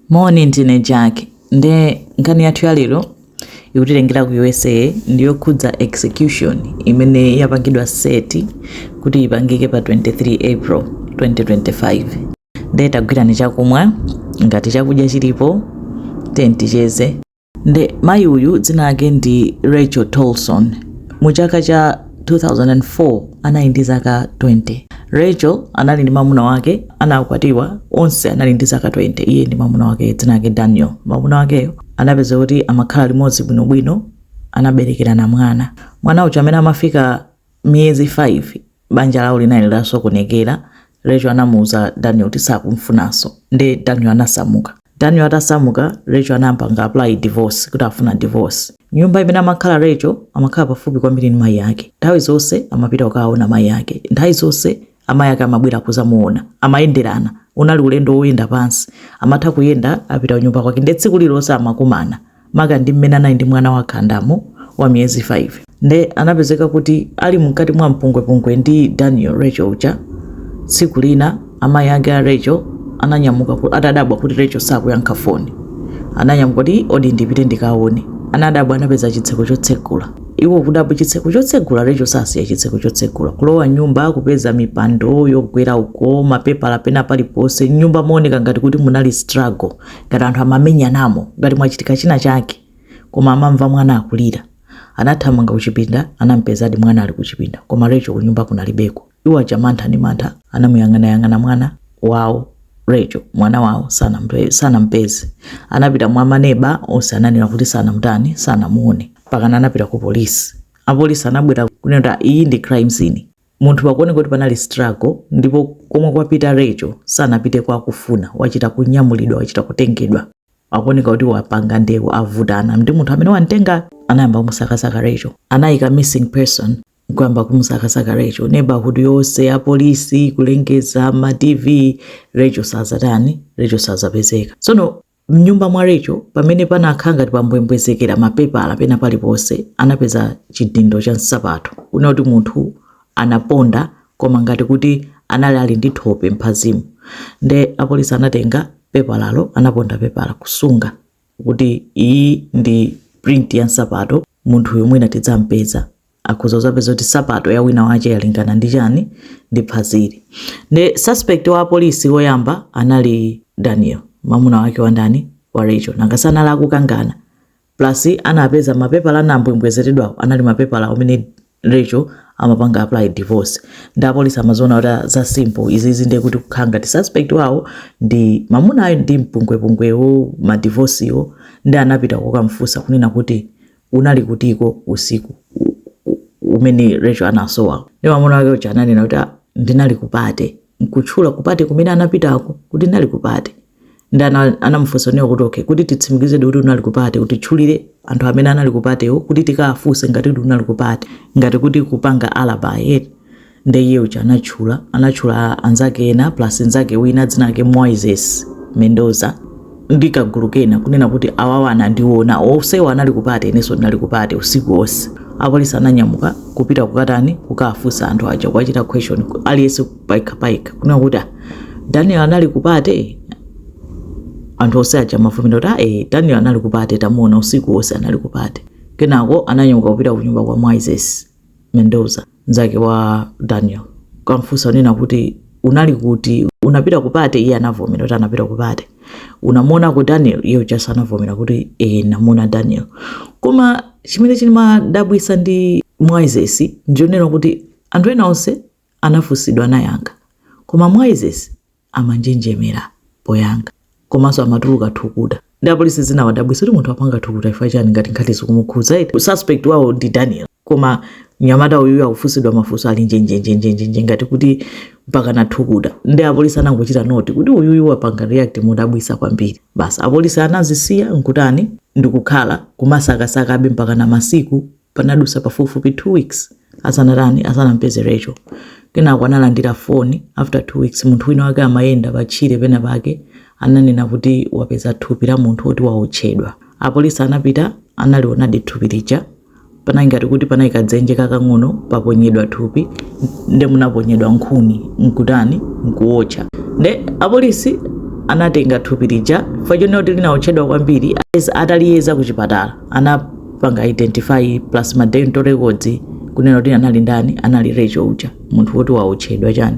Moni ndine Jack nde nkhani yathu ya lero ikutilengera ku usa ndiyokhudza execution imene yapangidwa set kuti ipangike pa 23 april 2025 nde tagwirani chakumwa ngati chakudya chilipo then ticheze Nde mayi uyu dzina lake ndi Rachel Tolson. Mu chaka cha 2004 anali ndi zaka 20. Rachel anali ndi mamuna wake anakwatiwa onse anali ndi zaka 20 iye ndi mamuna wakeyo dzina lake Daniel. Mamuna wakeyo anapezeka kuti amakhala limodzi bwinobwino anaberekerana mwana. Mwana uja amene amafika miyezi 5 banja lawo linali lasokonekera Rachel anamuuza Daniel kuti sakumfunanso nde Daniel anasamuka Daniel atasamuka Rachel anapanga apply divorce kuti afuna divorce nyumba imene amakhala Rachel amakhala pafupi kwambiri ndi mayi ake nthawi zonse amapita kukaona mayi ake nthawi zonse amayi ake amabwera kuzamuona amayenderana unali ulendo woyenda pansi amatha kuyenda apita kunyumba kwake nde tsiku lililonse amakumana maka ndi mmene anali ndi mwana wakhandamo wa miyezi 5 nde anapezeka kuti ali mkati mwa mpungwepungwe ndi daniel rachel uja tsiku lina amayi ake a rachel ananyamuka ku- atadabwa kuti rachel sakuyankha foni ananyamuka kuti odi ndipite ndikaone anadabwa anapeza chitseko chotsekula Iwo kudabwa chitseko chotsegula Rachel sasiya chitseko chotsegula kulowa mnyumba kupeza mipando yogwera uko mapepala pena paliponse mnyumba mooneka ngati kuti munali struggle ngati anthu amamenyanamo ngati mwachitika china chake koma amamva mwana akulira anathamanga kuchipinda anampezadi mwana ali kuchipinda koma Rachel kunyumba kunalibeko Iwo aja mantha ndi mantha anamuyang'anayang'ana mwana wawo Rachel, mwana wawo sanampeze. Anapita mwa maneba onse ananena kuti sanamutani, sanamuone mpakana anapita ku polisi. Apolisi anabwera kunena kuti ah, iyi ndi crime scene. Muno pakuoneka kuti panali struggle ndipo komwe kwapita Rachel sanapite kwa kufuna, wachita kunyamulidwa, wachita kutengedwa. Akuoneka kuti wapanga ndewu, avutana ndi munthu amene wamtenga, anayamba kumusakasaka Rachel. Anayika missing person kuyamba kumusakasaka Rachel neighborhood yonse apolisi kulengeza ma tv Rachel sazatani Rachel sazapezeka tsono mnyumba mwa Rachel pamene panakhala ngati pambwembwezekera mapepala pena paliponse anapeza chidindo cha nsapato kunena kuti munthu anaponda koma ngati kuti anali ali ndi thope mphazimu nde apolisi anatenga pepalalo anaponda pepala kusunga kuti iyi ndi print ya nsapato munthuyu mwina tidzampeza akhoza kuzapeza kuti sapato ya wina wache yalingana ndi chani ndi phazili nde suspect wa polisi woyamba anali daniel mamuna wake wa ndani wa rachel nanga si anali akukangana plus anapeza mapepala anambwembwezeredwawo anali mapepala amene Rachel amapanga apply divorce ndi apolisi anaziona kuti ah, za simple izizi ndiye kuti kukhala ngati suspect wawo ndi mamunayo ndi mpungwepungwewo madivosiwo ndi anapita kukamfunsa kunena kuti unali kutiko usiku u- u- umene Rachel anasowa ndi mamuna wake uja ananena kuti "Ah, ndinali kupate nkutchula kupate kumene anapitako kuti ndinali kupate ndi ana- anamufunsa iwo kuti okay kuti titsimikizedi kuti unali kupate utitchulire anthu amene anali kupatewo kuti tikawafunse ngati kuti unali kupate ngati kuti kupanga alibi eti nde iye uja anatchula anatchula anzake ena plus nzake wina dzina lake moises mendoza ndi kagulu kena kunena kuti awawa anandiona onsewo anali kupate inenso ndinali kupate usiku wonse apolisi ananyamuka kupita kukatani kukafunsa anthu aja kuwachita question aliyense payekha payekha kunena kuti "Ah, daniel anali kupate anthu onse aja amavomera kuti "Ah, eh, daniel anali kupate tamuona usiku wonse anali kupate kenako ananyamuka kupita kunyumba kwa moises mendoza Mnzake wa Daniel kukamfunsa kunena kuti unali kuti unapita kupate, iye anavomera kuti anapita kupate. Unamuonako Daniel? Iye ujanso anavomera kuti e, namuona Daniel. Koma chimene chimadabwitsa ndi Moises ndi chonena kuti anthu ena onse anafunsidwa anayankha, koma Moises amanjenjemera poyankha komanso amatuluka thukuta ndi apolisi zinawadabwitsa kuti munthu apanga thukuta chifukwa chani ngati nkhani sikumukhudza eti suspect wawo ndi Daniel. Koma mnyamata uyuyu akufunsidwa mafunso ali njenjenjenjenjenje ngati kuti mpaka nathukuta. Ndi apolisi anangochita noti kuti uyuyu wapanga react modabwitsa kwambiri. Basi apolisi anazisiya n'kutani ndi kukhala kumasakasakabe mpakana masiku anadutsa pafupifupi 2 weeks asanatani, asanamupeze Rachel. Kenako analandira foni after 2 weeks munthu wina wake amayenda patchire penapake ananena kuti wapeza thupi la munthu woti waotchedwa. Apolisi anapita analionadi thupi lija. panali ngati kuti panali kadzenje kakang'ono panaponyedwa thupi nde munaponyedwa nkhuni nkutani nkuwotcha nde apolisi anatenga thupi lija chifukwa chonena kuti linawotchedwa kwambiri ataliyeza ku chipatala anapanga identify plus ma dental records kunena kuti anali ndani anali Rachel uja munthu woti wawotchedwa chani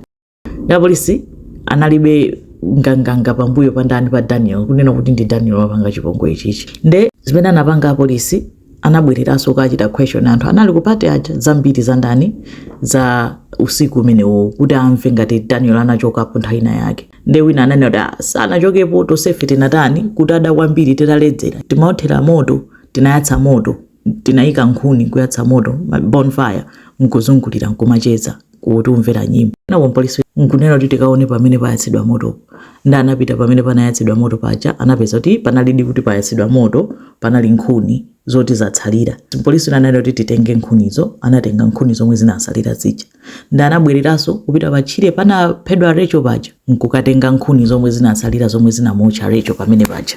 apolisi analibe nganganga pambuyo pa ndani pa daniel kunena kuti ndi daniel wapanga chipongwe ichichi nde zimene anapanga apolisi anabwereranso kachita question anthu anali kupate aja zambiri za ndani za usiku umenewo kuti amve ngati daniel anachokapo nthawi ina yake nde wina ananena kuti "Ah, sanachokepo tonsefe tinatani kutada kwambiri titaledzera timaothera moto tinayatsa moto tinayika nkhuni kuyatsa moto ma- bonfire nkuzungulira nkumacheza kuti umvera nyimbo nde apolisi nkunena kuti tikaone pamene payatsidwa moto nde anapita pamene panayatsidwa moto paja anapeza kuti panalidi kuti payatsidwa moto panali nkhuni zoti zatsalira mpolisi uyu ananena kuti titenge nkhunizo anatenga nkhuni zomwe zinasalira zija nde anabwereranso kupita patchire panaphedwa Rachel paja nkukatenga nkhuni zomwe zinasalira zomwe zinamuotcha Rachel pamene paja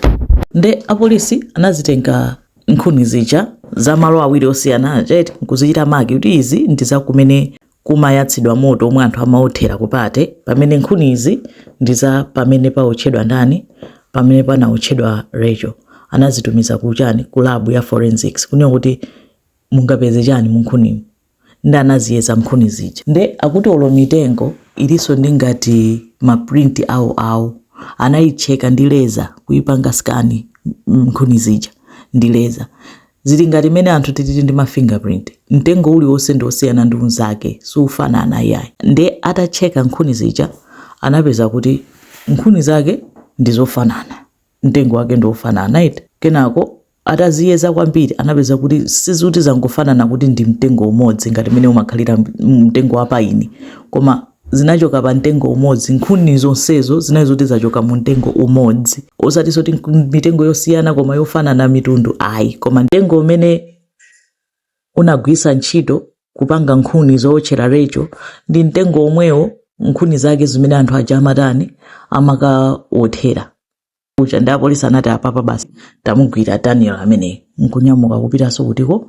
nde apolisi anazitenga nkhuni zija za malo awiri osiyana aja eti nkuzichita maki kuti izi ndi za kumene kumayatsidwa moto omwe anthu amaothera ku party pamene nkhuni izi ndi za pamene paotchedwa ndani pamene panaotchedwa Rachel anazitumiza kuchani ku lab ya forensics kunena kuti mungapeze chani mu nkhunimu nde anaziyeza nkhuni zija nde akuti olo mitengo ilinso ndi ngati ma print awo awo anaicheka ndi laser kuipanga scan nkhuni zija ndi laser zili ngati mene anthu tilili ndi ma fingerprint mtengo uliwonse ndi osiyana ndi unzake siufanana iyayi nde atacheka nkhuni zija anapeza kuti nkhuni zake ndi zofanana mtengo wake ndi wofanana eti kenako Ataziyeza kwambiri anapeza kuti si zoti zangofanana kuti ndi mtengo umodzi ngati mmene umakhalira mtengo wa paini, koma zinachoka pa mtengo umodzi. Nkhuni zonsezo zinali zoti zachoka mu mtengo umodzi, osati zoti mitengo yosiyana koma yofanana mitundu ayi, koma mtengo umene unagwiritsa ntchito kupanga nkhuni zowotchera Rachel ndi mtengo womwewo nkhuni zake zimene anthu aja amatani amakawothera. uja nde apolisi anati apapa basi tamugwira daniel ameneyi nkunyamuka kupitanso kutiko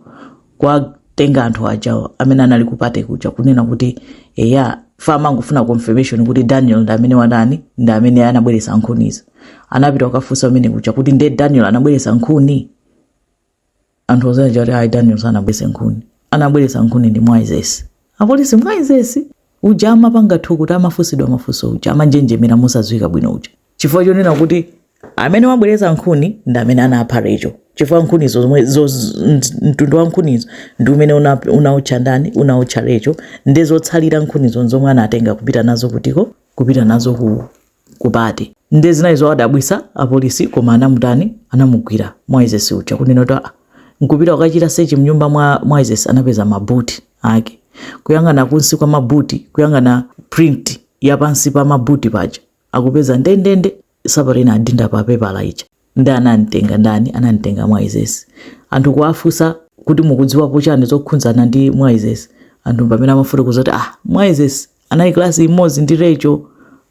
kuwatenga anthu ajawo amene anali ku party kuja kunena kuti eya amangofuna confirmation kuti daniel ndi amene watani ndi amene anabweretsa nkhunizo anapita kukafunsa amene kuja kuti ndi daniel anabweretsa nkhuni anthu onse aja kuti ayi daniel sanabweretse nkhuni anabweretsa nkhuni ndi Moises apolisi Moises uja amapanga thukuti amafunsidwa mafunso uja amanjenjemera mosadziwika bwino uja chifukwa chonena kuti amene wabweretsa nkhuni ndi amene anapha Rachel chifukwa nkhunizo zomwe zo- z- nt- mtundu wa nkhunizo ndi umene una- unaotcha ndani unaotcha Rachel ndi zotsalira nkhunizo zomwe anatenga kupita nazo kutiko kupita nazo ku ku party nde zinali zowadabwisa apolisi koma anamutani anamugwira Moises uja kunena kuti aa nkupita kukachita sechi mnyumba mwa Moises anapeza ma boot ake kuyang'ana kunsi kwa ma boot kuyang'ana print ya pansi pa ma boot paja akupeza ndendende nsapato inadinda pa pepala ija Nde anantenga ndani? Anantenga Moises. Anthu kuwafusa kuti mukudziwapo chani zokhunzana ndi Moises? Anthu mpamene amafotokoza kuti ah, Moises anali class imozi ndi Rachel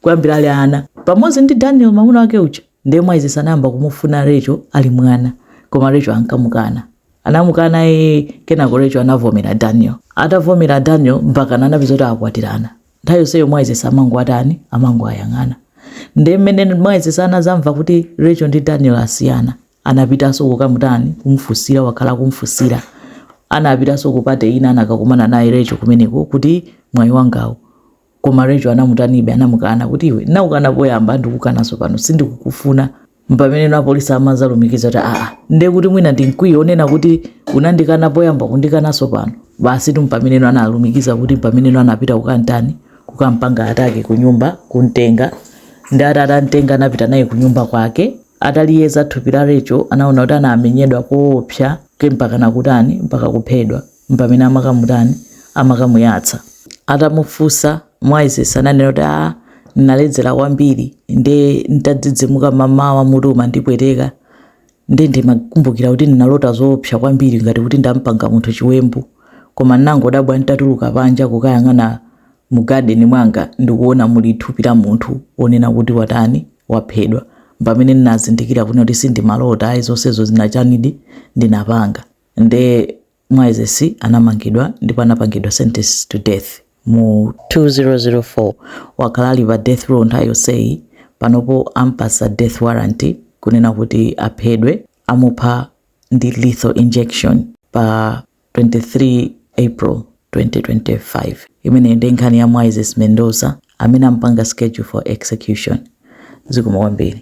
kuyambira ali ana. Pamozi ndi Daniel mamuna wake uja. Nde Moises anayamba kumufuna Rachel ali mwana. Koma Rachel ankamukana. Anamukana ee, kenako Rachel anavomera Daniel. Atavomera Daniel, mpakana anapeza kuti akwatirana. nthawi yonseyo Moises amangowatani amangowayang'ana nde mmene Moises anazamva kuti Rachel ndi Daniel asiyana anapitanso kukamutani kumfunsira wakhala kumfunsira anapitanso ku party ina anakakumana naye Rachel kumeneko kuti mwayi wangawo koma Rachel anamutanibe anamukana kuti iwe ndinakukana poyamba ndikukananso pano sindikukufuna Mpamene apolisi amazalumikiza kuti aa, ndiye kuti mwina ndi mkwiyo onena kuti unandikana poyamba kundikanaso pano. Basitu mpamene analumikiza kuti mpamene anapita kukantani kukampanga attack kunyumba kuntenga nde atantenga anapita naye kunyumba kwake ataliyeza thupi la Rachel anaona kuti anamenyedwa koopsa ke mpakana kutani mpaka kuphedwa. mpamene amakamutani amakamuyatsa atamufusa Moises ananena kuti a ah, naledzera kwambiri nde ntadzidzimuka mamawa mutu umandipweteka nde ndimakumbukira kuti ndinalota zoopsa kwambiri ngati kuti ndampanga munthu chiwembu koma ndinangodabwa ntatuluka panja kukayang'ana mu garden mwanga ndikuona muli thupi la munthu onena kuti watani waphedwa pamene ndinazindikira kuti sindimalota ayi zonsezo zinachanidi ndinapanga nde Moises anamangidwa ndipo anapangidwa sentence to death mu 2004 wakhala ali pa death row nthawi yonseyi panopo ampasa death warrant kunena kuti aphedwe amupha ndi lethal injection pa 23 april 2025 imeneyi ndi nkhani ya Moises Mendoza amene ampanga schedule for execution zikomo kwambiri